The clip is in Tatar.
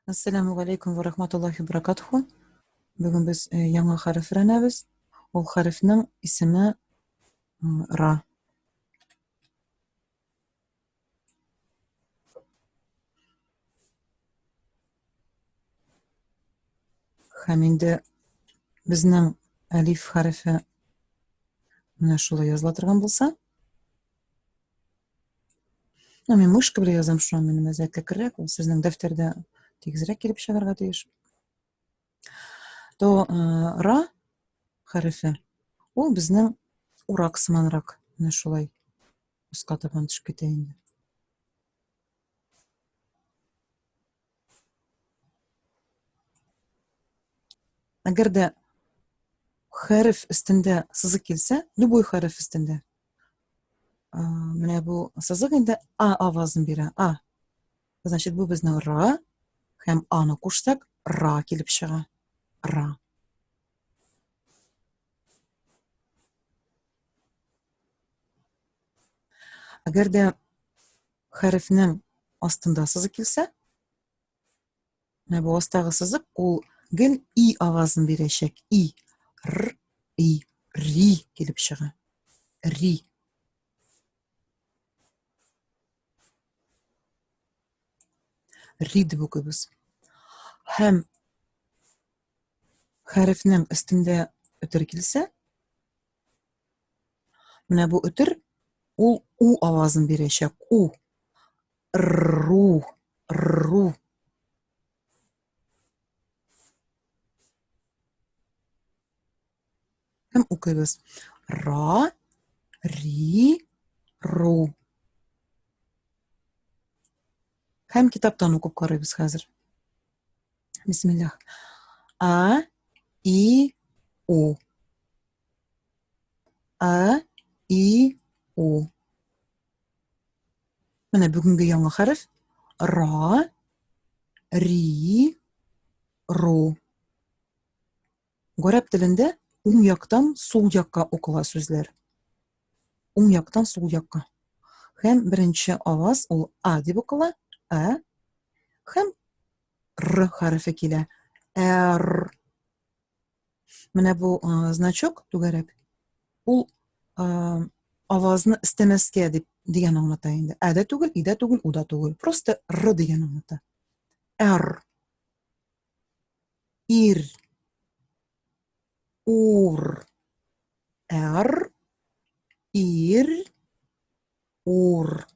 Ассаламу алейкум ва рахматуллахи баракатуху. Бүген без э, яңа хәреф өйрәнәбез. Ул хәрефнең исеме ра. Һәм инде безнең әлиф хәрефе менә шулай языла торган булса, Ну, мин мышка белән язам, шуңа минем әзәтлекрәк, ул сезнең дәфтәрдә тигезрәк килеп чыгарга тиеш. То э, ра хәрефе, ул безнең урак сыманрак, менә шулай уска табан төшеп китә инде. Әгәр дә хәреф өстендә сызык килсә, любой хәреф өстендә. Менә бу сызык инде а авазын бирә. А. Значит, бу безнең ра һәм аны кушсак, ра килеп чыга. Ра. Әгәр дә хәрефнең астында сызык килсә, менә бу астагы сызык ул гел и авазын бирәчәк. И, р, и, ри килеп чыга. Ри. Ри дип укыйбыз. Һәм хәрефнең өстендә үтер килсә, Менә бу үтер ул у авазын бирәчәк. У. Ру. Ру. Һәм укыйбыз. Ра. Ри. Ру. Һәм китаптан укып карыйбыз хәзер. Бисмиллах. А. И. У. А, И, У. Менә бүгенге яңа хәреф. Ра, Ри, Ру. Горәп телендә уң яктан сул якка укыла сүзләр. Уң яктан сул якка. Хәм беренче аваз ул А дип укыла. А. Хәм Р хәрефе килә. Р. Менә бу э, значок түгәрәк. Ул э, авазны истәмәскә дип дигән аңлата инде. Ә дә түгел, и дә түгел, у да түгел. Просто р дигән аңлата. Р. Ир. Ур. Р. Ир. Ур.